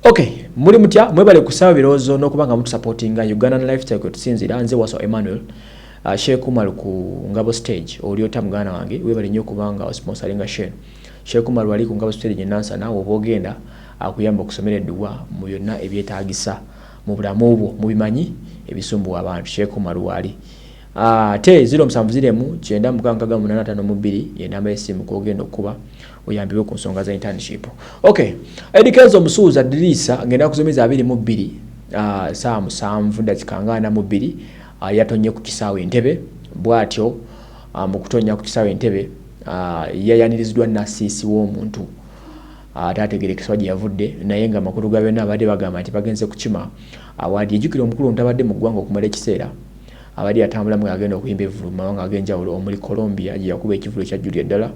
okay muli mutya mwebale kusaba birowoozo n'okuba nga mutusapootinga ugandan lifestyle kwe tusinzira nze waso emmanuel uh, shekumar ku ngabo stage olyota muganda wange webale nnyo okubanga osponsoringa shen shekumar wali ku ngabo stage enansa naawe oba ogenda akuyamba okusomera edduwa mu byonna ebyetaagisa mu bulamu bwo mubimanyi ebisumbuwa abantu shekumar wali ate uh, ziro musanvu ziremu kyenda mukaaga mukaaga munaana ataano mu bbiri yenamba y'essimu kwogenda okukuba oyambibwe ku nsonga za internship ok edikenzo omusuuza diriisa ngenda kuzomeza abiri mu bbiri uh, saa musanvu dakika nga ana mu bbiri uh, yatonye ku kisaawe entebe bwatyo uh, mu kutonya ku kisaawe entebe uh, yayaniriziddwa nasiisi w'omuntu ataategerekeswa gye yavudde naye nga amakulu ga byonna abadde bagamba nti bagenze kukima awaadi ejjukira omukulu ntabadde mu ggwanga okumala ekiseera Abadde atambula mu ng'agenda okuyimba evvulu mu mawanga ag'enjawulo omuli Colombia gye yakuba ekivvulu ekyajjulira ddala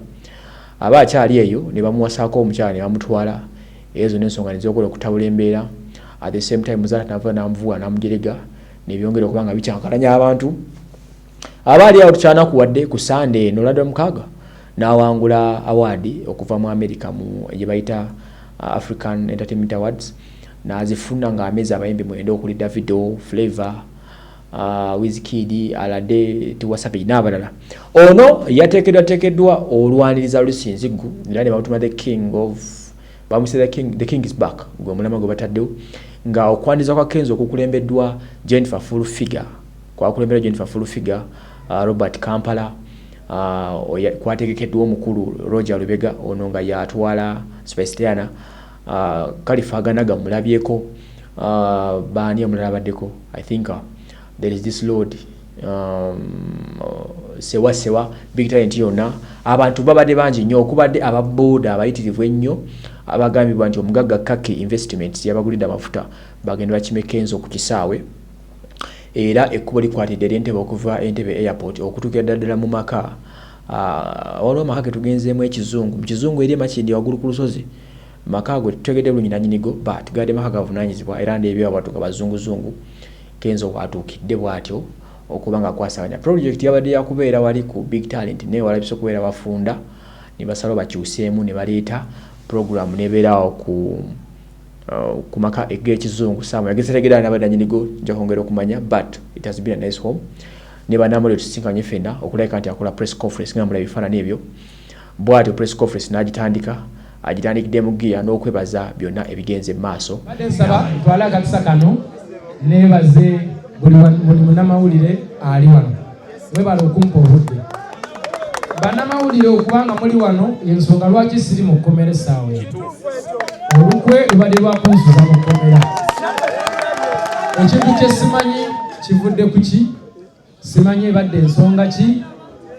aba akyali eyo ne bamuwasaako omukyala ne bamutwala era zonna ensonga ne zokola okutabula embeera at the same time muzaata nava n'amuvuwa n'amujerega ne byongera okuba nga bikyankalanya abantu aba ali awo tukyanakuwadde ku Sunday eno London Mukaaga n'awangula awaadi okuva mu amerika mu gye bayita uh, african entertainment awards n'azifuna ng'amezi abayimbi mwenda okuli davido flavor uh, Wizkid, Alade, Tiwa Savage n'abalala. Ono yateekedwateekeddwa olwaniriza Lusinziggu era ne bamutuma the king of bamuse the king, the king is back gwe omulama gwe bataddewo nga okwaniriza kwa Kenzo okukulembeddwa Jennifer Full Figure kwakulembeddwa Jennifer Full Figure uh, Robert Kampala uh, kwategekeddwa omukulu Roger Lubega ono nga yatwala Spice Diana Uh, Khalifa Aganaga mulabyeko uh, baani omulala abaddeko I think uh, there is this lord um, uh, sewa sewa big talent yonna abantu babadde bangi nnyo okubadde ababooda abayitirivu ennyo abagambibwa nti omugagga kaki investment yabagulidde amafuta bagenda bakimekenzo ku kisaawe era ekkubo likwatidde eryentebe okuva entebe airport okutuukira ddaddala mu maka uh, waliwo amaka getugenzeemu ekizungu mu kizungu eri emakindi waggulu ku lusozi Maka gwe tetutegedde bulungi nanyini go but gabadde maka gavunanyizibwa era ndebye wabadde gwa bazungu zungu Kenzo waatuukidde bwatyo okuba nga akwasaganya project yabadde yakubeera wali ku big talent naye walabise okubeera bafunda nebasalawo bakyuseemu nebaleeta program nebeera awo ku uh, ku maka eg'ekizungu saamu yagezetegedde nabadde nanyini go nja kwongera okumanya but it has been a nice home ne banamuli otusisinkanye fena okulabika nti akola press conference nga mula ebifaanani ebyo Bwatyo Press Conference n'agitandika, agitandikidde mu ggiya n'okwebaza byonna ebigenze mu maaso. Mbadde nsaba ntwale akakisa kano neebaze buli munnamawulire ali wano. Mwebale okumpa obudde. Bannamawulire okuba nga muli wano y'ensonga lwaki siri mu kkomera essaawa eno. Olukwe lubadde lwa kunsuza mu kkomera. Ekintu kye simanyi kivudde ku ki? simanyi ebadde ensonga ki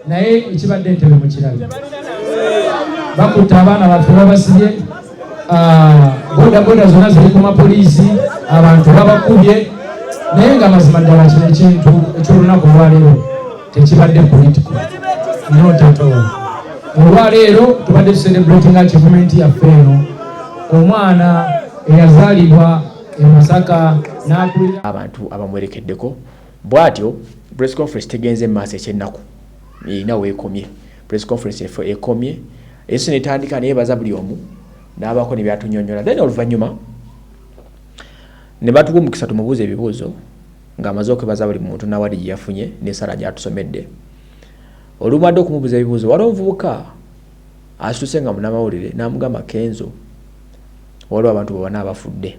naye ekibadde entebe mukirabi bakutte abaana baffe babasibye ah, bodaboda zonna ziri ku mapoliisi abantu babakubye naye nga mazima ddala kino ekintu ekyolunaku olwaleero tekibadde politiko notato olwaleero tubadde tuserebratinga kivumenti yaffe eno omwana eyazaalibwa e masaka n'akulira abantu abamwerekeddeko Bwatyo press conference tegenze maaso ekyenaku erina wekomye press conference efo ekomye eso netandika neyebaza buli omu nabako nebyatunyonyola then oluvanyuma nebatuwa omukisa tumubuuza ebibuuzo nga amaze okwebaza buli muntu nawadi gyeyafunye nesala gyatusomedde olumadde okumubuuza ebibuuzo waliwo omuvubuka asituse nga munamawulire namugamba kenzo waliwo abantu bobana abafudde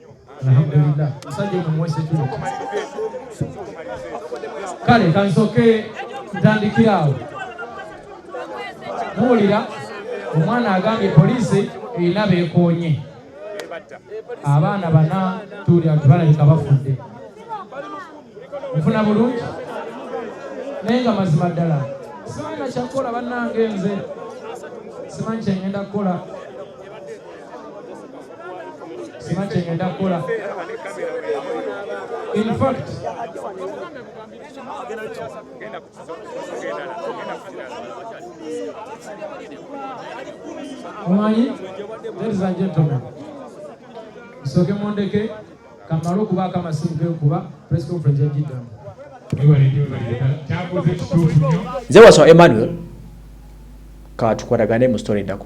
alhamdulillah musajja ono muwese kino kale kansoke ntandikira awo muwulira omwana agambye poliisi erina beekoonye abaana bana tuwulira nti balabika bafudde nfuna bulungi naye nga mazima ddala simanyi nakyakukola bannange nze simanyi kyengenda kukola sima kyengenda kukola infact omanyi ladies and gentlemen musooke mundeke kamale okubaako amasimu gekuba press conference yajiddamu nze wasoma emmanuel katukolagane mu story endako